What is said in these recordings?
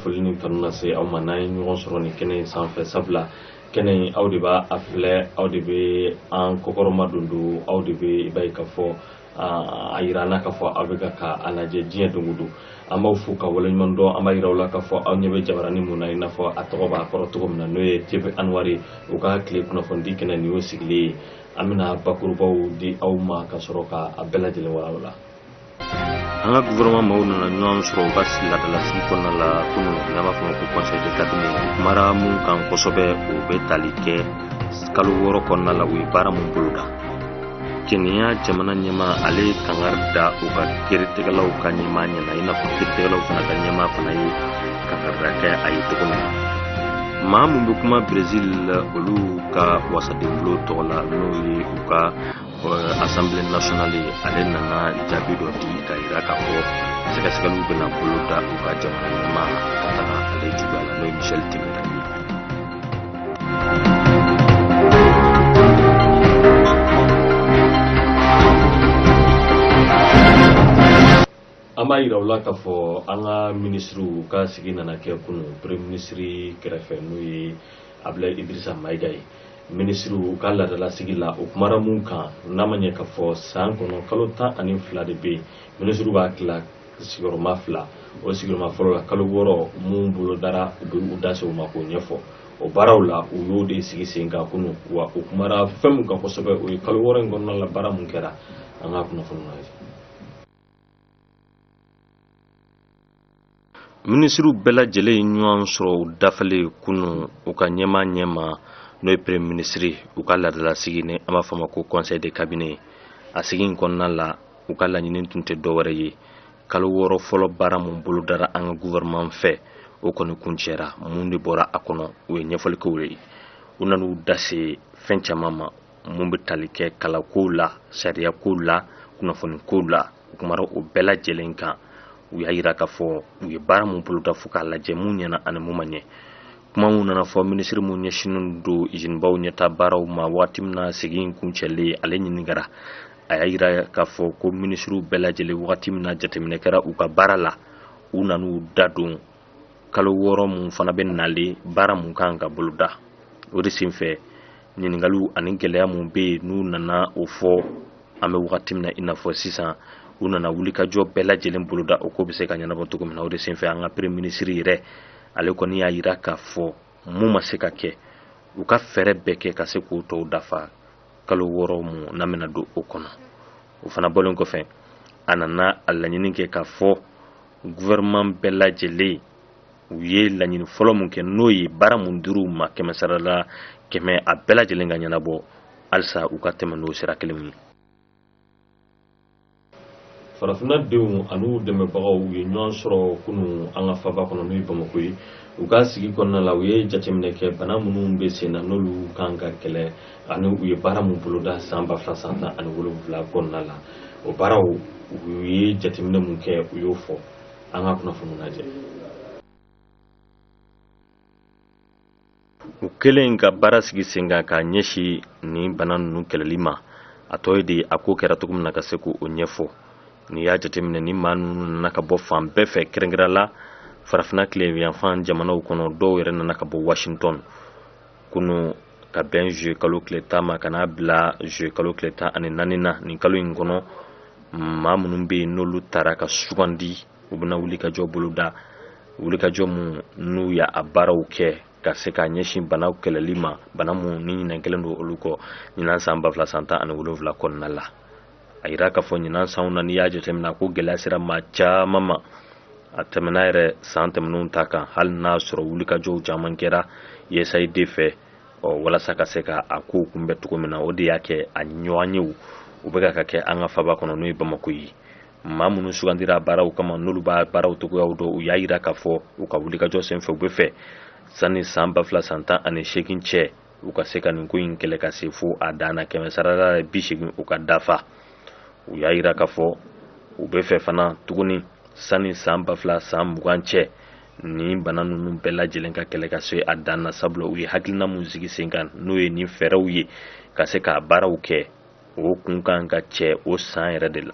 foli ni kanu na se aw ma n'an ye ɲɔgɔn sɔrɔ nin kɛnɛ in sanfɛ sabula kɛnɛ in aw de b'a a filɛ aw de bɛ an kɔkɔrɔma don don aw de bɛ i b'a ye k'a fɔ a yira an na k'a fɔ aw bɛ ka ka a lajɛ diɲɛ don o don an b'aw fo ka waleɲuman dɔn an b'a yira aw la k'a fɔ aw ɲɛ bɛ jabarani mun na i n'a fɔ a tɔgɔ b'a kɔrɔ cogo min na n'o ye tv anwari u ka tile kunnafonidi kɛnɛ nin y'o sigilen ye an bɛna bakurubaw di aw ma ka sɔrɔ ka a bɛɛ lajɛlen walawala an ka gouvernement maaw nana ɲɔgɔn sɔrɔ u ka laadalasigi kɔnɔna la kunun n'an b'a fɔ ma ko conseil de cabinet u kumara mun kan kosɛbɛ u bɛ tali kɛ kalo wɔɔrɔ kɔnɔna la u ye baara mun boloda kenya jamana ɲɛmaa ale ye kangari da u ka kiritigɛlaw ka ɲɛmaa ɲɛ na i n'a fɔ kiritigɛlaw fana ka ɲɛmaa fana ye kangari da kɛ a ye cogo min na maa mun bɛ kuma brezil olu ka wasadenbulon tɔgɔ la n'o ye u ka assemblée nationale ale nana jaabi dɔ di ka yira k'a fɔ sɛgɛsɛgɛliw bɛna boloda u ka jamana ɲɛmaa ka taga ale juguya la n'o ye michel temer ye an b'a yira u la k'a fɔ an ka minisiriw ka sigi nana kɛ kunun premier minisiri kɛrɛfɛ n'o ye abulayi idirisa mayiga ye minisiriw ka laadalasigi la o kumara mun kan n'a ma ɲinɛ k'a fɔ san kɔnɔ kalo tan ani fila de bɛ yen minisiriw b'a tila sigiyɔrɔma fila o sigiyɔrɔma fɔlɔ la kalo wɔɔrɔ mun bolodara u bɛ u da se o ma k'o ɲɛfɔ o baaraw la u y'o de sigi sen kan kunun wa u kumara fɛn mun kan kosɛbɛ o ye kalo wɔɔrɔ in kɔnɔna la baara mun kɛra an ka kunnafoni na minisiriw bɛɛ lajɛlen ye ɲɔgɔn sɔrɔ u dafalen kunun u ka ɲɛmaa ɲɛma n'o ye premier minisiri u ka laadalasigi ni an b'a fɔ ma ko conseil de cabinet a sigi in kɔnɔna la u ka laɲini tun tɛ dɔwɛrɛ ye kalo wɔɔrɔ fɔlɔ baara mun bolodara an ka gouvernement fɛ o kɔni kuncɛra mun de bɔra a kɔnɔ o ye ɲɛfɔlikow ye u nan'u da se fɛn caman ma mun bɛ tali kɛ kalankow la sariyakow la kunnafonikow la u kumara o bɛɛ lajɛlen kan u y'a yira k'a fɔ u ye baara mun boloda fo k'a lajɛ mun ɲɛna ani mun ma ɲɛ kuma mun nana fɔ minisiri mun ɲɛsinnen don izinibaw ɲɛta baaraw ma waati min na sigi in kuncɛlen ale ɲininkara a y'a yira k'a fɔ ko minisiriw bɛɛ lajɛlen wagati min na jateminɛ kɛra u ka baara la u nan'u da don kalo wɔɔrɔ mun fana bɛ nalen baara mun kan ka boloda o de senfɛ ɲininkaliw ani gɛlɛya mun bɛ yen n'u nana o fɔ an bɛ wagati min na i n'a fɔ sisan u nana wulikajɔ bɛɛ lajɛlen boloda o ko bɛ se ka ɲɛnabɔ cogo min na o de senfɛ an ka premier minisiri yɛrɛ ale kɔni y'a yira k'a fɔ mun ma se ka kɛ u ka fɛɛrɛ bɛɛ kɛ ka se k'o tɔw dafa kalo wɔɔrɔ mun n'an bɛna don o kɔnɔ o fana bɔlen kɔfɛ a nana a laɲini kɛ k'a fɔ gouvernement bɛɛ lajɛlen u ye laɲini fɔlɔ mun kɛ n'o ye baara mun dir'u ma kɛmɛ sarala kɛmɛ a bɛɛ lajɛlen ka ɲɛnabɔ halisa u ka tɛmɛ n'o sira kelen ye farafinna denw an'u dɛmɛbagaw u ye ɲɔgɔn sɔrɔ kunu an ka faba kɔnɔ n'o ye bamako ye u ka sigi kɔnɔna la u ye jateminɛ kɛ bana minnu bɛ sen na n'olu kan ka kɛlɛ ani u ye baara min boloda san ba fila san tan ani wolonwula kɔnɔna la o baaraw u ye jateminɛ mun kɛ u y'o fɔ an ka kunnafoni lajɛ u kelen ka baara sigi sen kan k'a ɲɛsin nin bana ninnu kɛlɛli ma a tɔ ye de a ko kɛra cogo min na ka se k'o ɲɛfɔ n'i y'a jateminɛ ni maa ninnu nana ka bɔ fan bɛɛ fɛ kɛrɛnkɛrɛn la farafina tileyanfan jamanaw kɔnɔ dɔw yɛrɛ nana ka bɔ washington kunu ka bɛn zuye kalo tile tan ma ka n'a bila zuye kalo tile tan ani naani na nin kalo in kɔnɔ maa minnu bɛ yen n'olu tara ka sugandi u bɛna wulikajɔ boloda wulikajɔ mun n'u y'a a baaraw kɛ ka se ka ɲɛsin banaw kɛlɛli ma bana mun ni ɲina kɛlen don olu kɔ ɲinan san ba fila san tan ani wolonwula kɔnɔna la a yira k'a fɔ ɲinan sanw na n'i y'a jateminɛ a ko gɛlɛya sera maa caman ma a tɛmɛna yɛrɛ san tɛmɛnenw ta kan hali n'a sɔrɔ wulikajɔw caman kɛra usaid fɛ ɔ walasa ka se ka a kow kunbɛn cogo min na o de y'a kɛ a ɲɔgɔnyew u bɛ ka kɛ an ka faba kɔnɔ n'o ye bamako ye maa minnu sugandira baaraw kama n'olu b'a baaraw cogoyaw dɔn u y'a yira k'a fɔ u ka wulikajɔ senfɛ u bɛ fɛ sanni san ba fila san tan ani seegin cɛ u ka se ka nin ko in kɛlɛ ka se fo a dan na kɛmɛ sarala bi segin u ka dafa u y'a yira k'a fɔ u bɛ fɛ fana tuguni sani san ba fila san mugan cɛ nin bana ninnu bɛɛ lajɛlen ka kɛlɛ ka se a dan na sabula u ye hakilina min sigi sen kan n'o ye nin fɛɛrɛw ye ka se k'a baaraw kɛ o kun kan ka cɛ o san yɛrɛ de la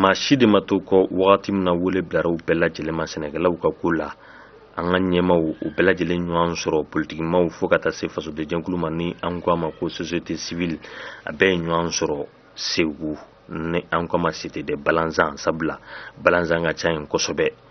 maa si de ma to kɔ wagati min na wele bilara u bɛɛ lajɛlen ma sɛnɛkɛlaw ka ko la an ka ɲɛmaw u bɛɛ lajɛlen ɲɔgɔn sɔrɔ politikimaw fo ka taa se fasodenjɛkulu ma ni an ko a ma ko société civile a bɛɛ ye ɲɔgɔn sɔrɔ segu ni an ko a ma cité des balanzans sabula balanzan ka ca yen kosɛbɛ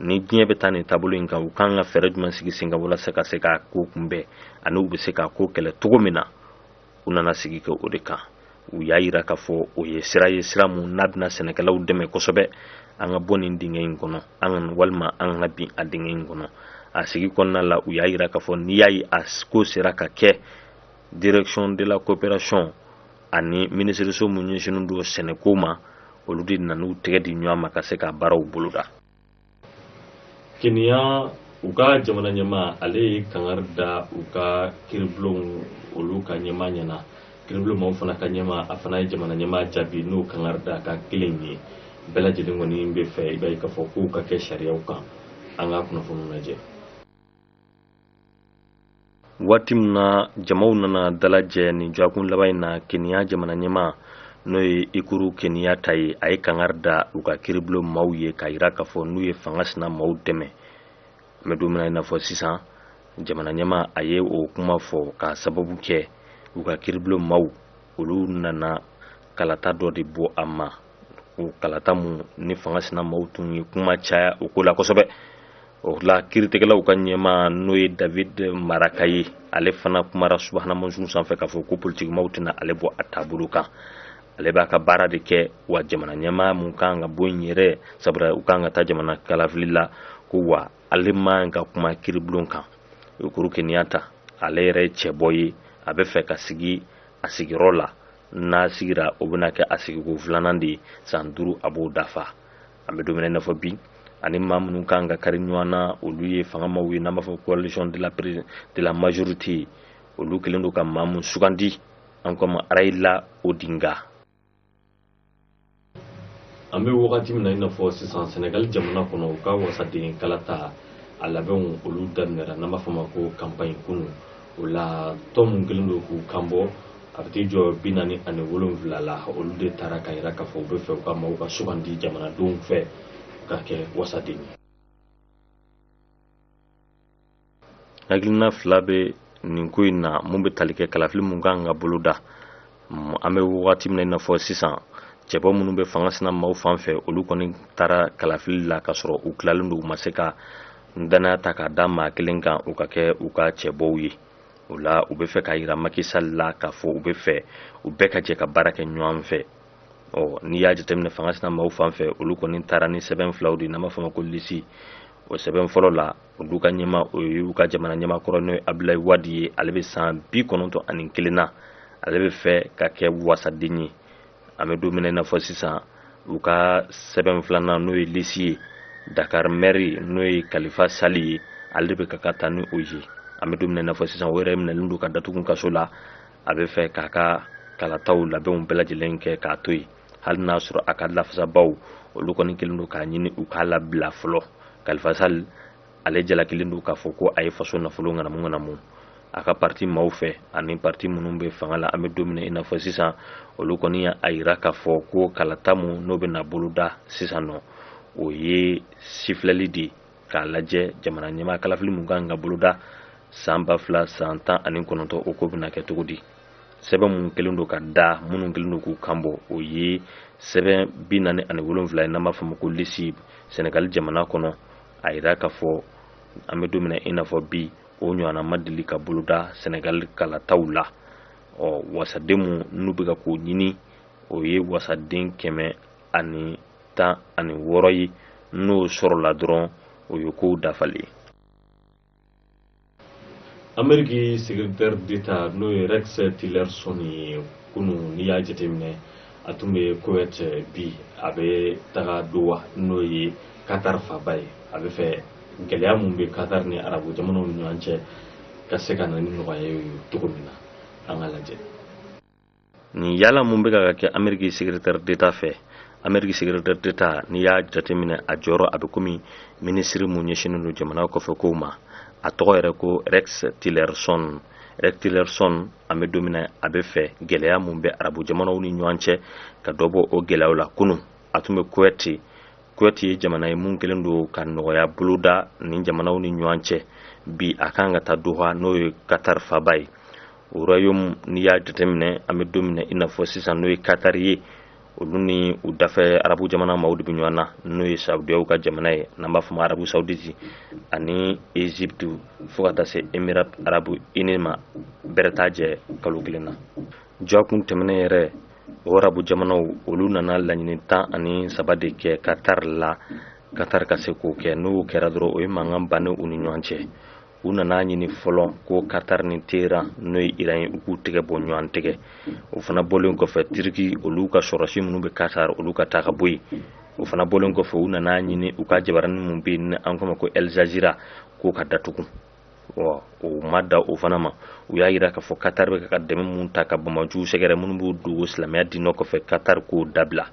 ni diɲɛ bɛ taa nin taabolo in kan u kan ka fɛɛrɛ jumɛn sigi sen kan walasa ka se k'a ko kunbɛn ani u bɛ se k'a ko kɛlɛ cogo min na u nana sigi kɛ o de kan u y'a yira k'a fɔ o ye sira ye sira mun n'a bɛna sɛnɛkɛlaw dɛmɛ kosɛbɛ an ka bɔ nin dingɛ in kɔnɔ an ka walima an kana bin a dingɛ in kɔnɔ a sigi kɔnɔna la u y'a yira k'a fɔ n'i y'a ye a ko sera ka kɛ direction de la coopération ani minisiriso mun ɲɛsinnen don sɛnɛko ma olu de nana u tɛgɛ di ɲɔgɔn ma ka se ka baaraw boloda keniya u ka jamana ɲɛmaa ale ye kangari da u ka kiribulonw olu ka ɲɛmaa ɲɛna kiribulon maaw fana ka ɲɛmaa a fana ye jamana ɲɛmaa jaabi n'o kangari da kan kelen ye bɛɛ lajɛlen kɔni bɛ fɛ i b'a ye k'a fɔ kow ka kɛ sariyaw kan an ka kunnafoniw lajɛ waati min na jamaw nana dalajɛ nin dɔgɔkun laban in na keniya jamana ɲɛmaa n'o ye uhuru keniyata ye a ye kangari da u ka kiribulon maaw ye k'a yira k'a fɔ n'u ye fanga sina maaw dɛmɛ an bɛ don min na i n'a fɔ sisan jamana ɲɛmaa a ye o kuma fɔ k'a sababu kɛ u ka kiribulon maaw olu nana kalata dɔ de bɔ a ma o kalata mun ni fanga sina maaw tun ye kuma caya o ko la kosɛbɛ o la kiritigɛlaw ka ɲɛmaa n'o ye david maraga ye ale fana kumara subahana mansinw sanfɛ k'a fɔ ko politikimaaw tɛna ale bɔ a taabolo kan ale b'a ka baara de kɛ wa jamana ɲɛmaa mun kan ka bɔ yen yɛrɛ sabula u kan ka taa jamana kalafili la ko wa ale man ka kuma kiribulon kan uhuru keniyata ale yɛrɛ ye cɛbɔ ye a bɛ fɛ ka sigi a sigiyɔrɔ la n'a sigira o bɛna kɛ a sigiko filanan de ye san duuru a b'o dafa an bɛ don min na i n'a fɔ bi ani maa minnu kan ka kari ɲɔgɔn na olu ye fanga maaw ye n'an b'a fɔ coalition de la, de la majorité olu kelen don ka maa mun sugandi an k'o ma rayila odinga an bɛ wagati min na i n'a fɔ sisan sɛnɛgali jamana kɔnɔ u ka wasaden kalata a labɛnw olu daminɛra n'an b'a fɔ ma ko kanpaɲi kunu o la tɔn min kelen don k'u kanbɔ a bɛ t'i jɔ bi naani ani wolonwula la olu de taara k'a yira k'a fɔ u bɛ fɛ u ka maaw ka sugandi jamanadenw fɛ ka kɛ wasaden ye hakilina fila bɛ nin ko in na mun bɛ tali kɛ kalafili mun kan ka boloda an bɛ wagati min na i n'a fɔ sisan cɛbɔ minnu bɛ fanga sina maaw fan fɛ olu kɔni taara kalafili la ka sɔrɔ u tilalen don u ma se ka danaya ta k'a da maa kelen kan u ka kɛ u ka cɛbɔw ye o la u bɛ fɛ k'a yira maki sali la k'a fɔ u bɛ fɛ u bɛɛ ka jɛ ka baara kɛ ɲɔgɔn fɛ ɔ n'i y'a jateminɛ fanga sina maaw fan fɛ olu kɔni taara ni sɛbɛn filaw de n'an b'a fɔ ma ko lisi o sɛbɛn fɔlɔ la olu ka ɲɛmaa o ye u ka jamana ɲɛmaa kɔrɔ n'o ye abulayi wadi ye ale bɛ san bi kɔnɔntɔn ani kelen na ale bɛ fɛ ka kɛ wasaden ye an bɛ don min na i n'a fɔ sisan u ka sɛbɛn filanan n'o ye lisi ye dakar mɛri n'o ye kalifa sali ye ale de bɛ ka ka taa ni o ye an bɛ don min na i n'a fɔ sisan o yɛrɛ minɛlen don k'a datugu kaso la a bɛ fɛ k'a ka kalataw labɛnw bɛɛ lajɛlen kɛ k'a to yen hali n'a sɔrɔ a ka lafasabaw olu kɔni kɛlen don k'a ɲini u k'a labila fɔlɔ khalifa sall ale jalakilen don k'a fɔ ko a ye faso nafolo ŋanamu ŋanamu a ka parti maaw fɛ ani parti minnu bɛ fanga la an bɛ don min na i n'a fɔ sisan olu kɔni y'a yira k'a fɔ ko kalata mun n'o bɛna boloda sisan nɔ o ye sifilɛli de ye k'a lajɛ jamana ɲɛmaa kalafili mun kan ka boloda san ba fila san tan ani kɔnɔntɔn o ko bɛna kɛ cogo di sɛbɛn mun kɛlen don ka da minnu kɛlen don k'u kanbɔ o ye sɛbɛn bi naani ani wolonfila ye n'an b'a fɔ ma ko lisi sɛnɛgali jamana kɔnɔ a yira k'a fɔ an bɛ don min na i n'a fɔ bi o ɲɔgɔnna ma deli ka boloda sɛnɛgali kalataw la ɔ wasaden mun n'u bɛ ka k'o ɲini o ye wasaden kɛmɛ ani tan ani wɔɔrɔ ye n'o sɔrɔla dɔrɔn o ye kow dafalen ye ameriki secrétaire d'état n'o ye rex tillerson ye kunu n'i y'a jateminɛ a tun bɛ kuwait bi a bɛ taga doha n'o ye qatar faaba ye a bɛ fɛ gɛlɛya mun bɛ qatar ni arabu jamanaw ni ɲɔgɔn cɛ ka se ka na ni nɔgɔya ye cogo min na an ka lajɛ nin yala mun bɛ ka kɛ ameriki secrétaire d'état fɛ ameriki secrétaire d'état n'i y'a jateminɛ a jɔyɔrɔ a bɛ komi minisiri mun ɲɛsinnen don jamana kɔfɛ kow ma a tɔgɔ yɛrɛ ko rex tillerson rex tillerson an bɛ don min na a bɛ fɛ gɛlɛya mun bɛ arabu jamanaw ni ɲɔgɔn cɛ ka dɔ bɔ o gɛlɛyaw la kunu a tun bɛ kuwɛti kuwɛti ye jamana ye mun kɛlen don ka nɔgɔya boloda nin jamanaw ni ɲɔgɔn cɛ bi a kan ka taa doha n'o ye katar faaba ye royaume n'i y'a jateminɛ an bɛ don min na i n'a fɔ sisan n'o ye katar ye olu ni u dafɛ arabu jamana maaw de bɛ ɲɔgɔn na n'o ye saudiyaw ka jamana ye n'an b'a fɔ ma arabu sauditi ani egypte fo ka taa se emirat arabu ini ma bɛrɛ t'a jɛ kalo kelen na jɔkun tɛmɛnen yɛrɛ o arabu jamanaw olu nana laɲini tan ani saba de kɛ katar la katar ka se k'o kɛ n'o kɛra dɔrɔn o ye mankan bannen u ni ɲɔgɔn cɛ u nana ɲini fɔlɔ ko katar ni teheran n'o ye iran ye u k'u tɛgɛ bɔ ɲɔgɔn tɛgɛ o fana bɔlen kɔfɛ tiriki olu ka sɔrɔsi minnu bɛ katar olu ka taa ka bɔ yen o fana bɔlen kɔfɛ u nana ɲini u ka jabaranin mun bɛ yen an k'o ma ko al jazeera k'o ka datugu o ma dan o fana ma u y'a yira k'a fɔ katar bɛ ka dɛmɛ mun ta ka banbaanciw sɛgɛrɛ minnu b'u dogo silamɛya diinɛ kɔfɛ katar k'o dabila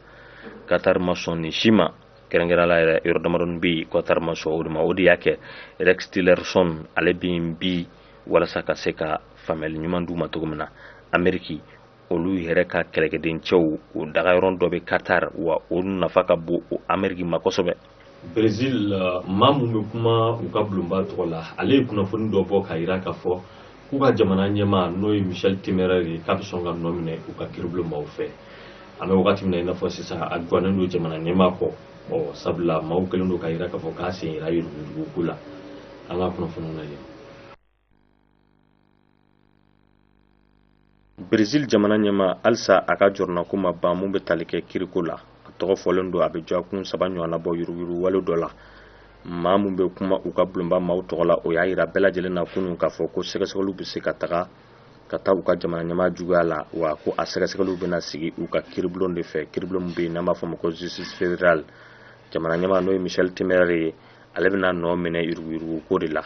katar ma sɔn nin si ma kɛrɛnkɛrɛnya la yɛrɛ yɔrɔ damadɔni bɛ yen qatar ma sɔn o de ma o de y'a kɛ rex tillerson ale bɛ yen bi walasa ka se ka faamuyali ɲuman d'u ma cogo min na ameriki olu yɛrɛ ka kɛlɛkɛden cɛw o dagayɔrɔ dɔ bɛ qatar wa o nafa ka bon ameriki ma kosɛbɛ brésil maa mun bɛ kuma u ka bulonba tɔgɔ la ale ye kunnafoni dɔ bɔ k'a yira k'a fɔ k'u ka jamana ɲɛmaa n'o ye michel temer ye k'a bɛ sɔn ka nɔ minɛ u ka kiribulon maaw fɛ an bɛ wagati min na i n'a fɔ sisan a gwannen don jamana ɲɛmaa kɔrɔ sabula maaw kɛlen don k'a yira k'a fɔ k'a sen yera yuruguyuruguko la an ka kunnafoniw lajɛ Brésil jamana ɲɛmaa halisa a ka jɔrɔnako ma ban mun bɛ tali kɛ kiriko la a tɔgɔ fɔlen don a bɛ dɔgɔkun saba ɲɔgɔnna bɔ yuruguyuruguwale dɔ la maa min bɛ kuma u ka bulonba maaw tɔgɔ la o y'a jira bɛɛ lajɛlen na kunun k'a fɔ ko sɛgɛsɛgɛliw bɛ se ka taga ka taa u ka jamana ɲɛmaa juguya la wa ko a sɛgɛsɛgɛliw bɛna sigi u ka kiribulon de fɛ kiribulon min bɛ yen n'an b'a fɔ ma ko justice fédérale jamana ɲɛmaa n'o ye michel temer ye ale bɛna nɔ minɛ yuruguyuruguko de la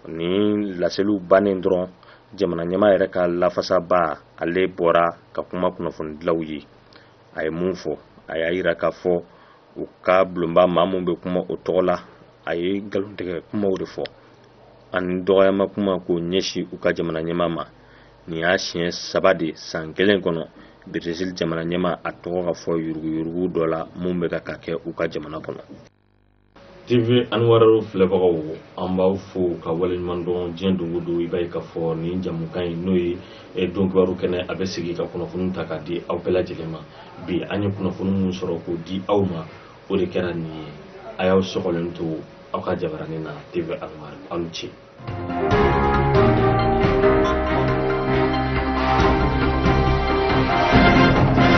nin laseliw bannen dɔrɔn jamana ɲɛmaa yɛrɛ ka lafasabaa ale bɔra ka kuma kunnafonidilaw ye a ye mun fɔ a y'a yira k'a fɔ u ka bulonba maa min bɛ kuma o tɔgɔ la a ye nkalontigɛ kumaw de fɔ ani dɔgɔyama kuma k'o ɲɛsin u ka jamana ɲɛmaa ma nin y'a siɲɛ saba de san kelen kɔnɔ Brésil jamana ɲɛmaa a tɔgɔ ka fɔ yuruguyurugu dɔ la mun bɛ ka ka kɛ u ka jamana kɔnɔ TV Anwar filɛbagaw an b'aw fo ka waleɲuman dɔn diɲɛ don o don i b'a ye k'a fɔ nin jamukan in n'o ye eh, don kibaru kɛnɛ a bɛ sigi ka kunnafoni ta k'a di aw bɛɛ lajɛlen ma bi an ye kunnafoni min sɔrɔ k'o di aw ma o de kɛra nin ye a y'aw sɔgɔlen to aw ka jabaranin na TV Anwar aw ni ce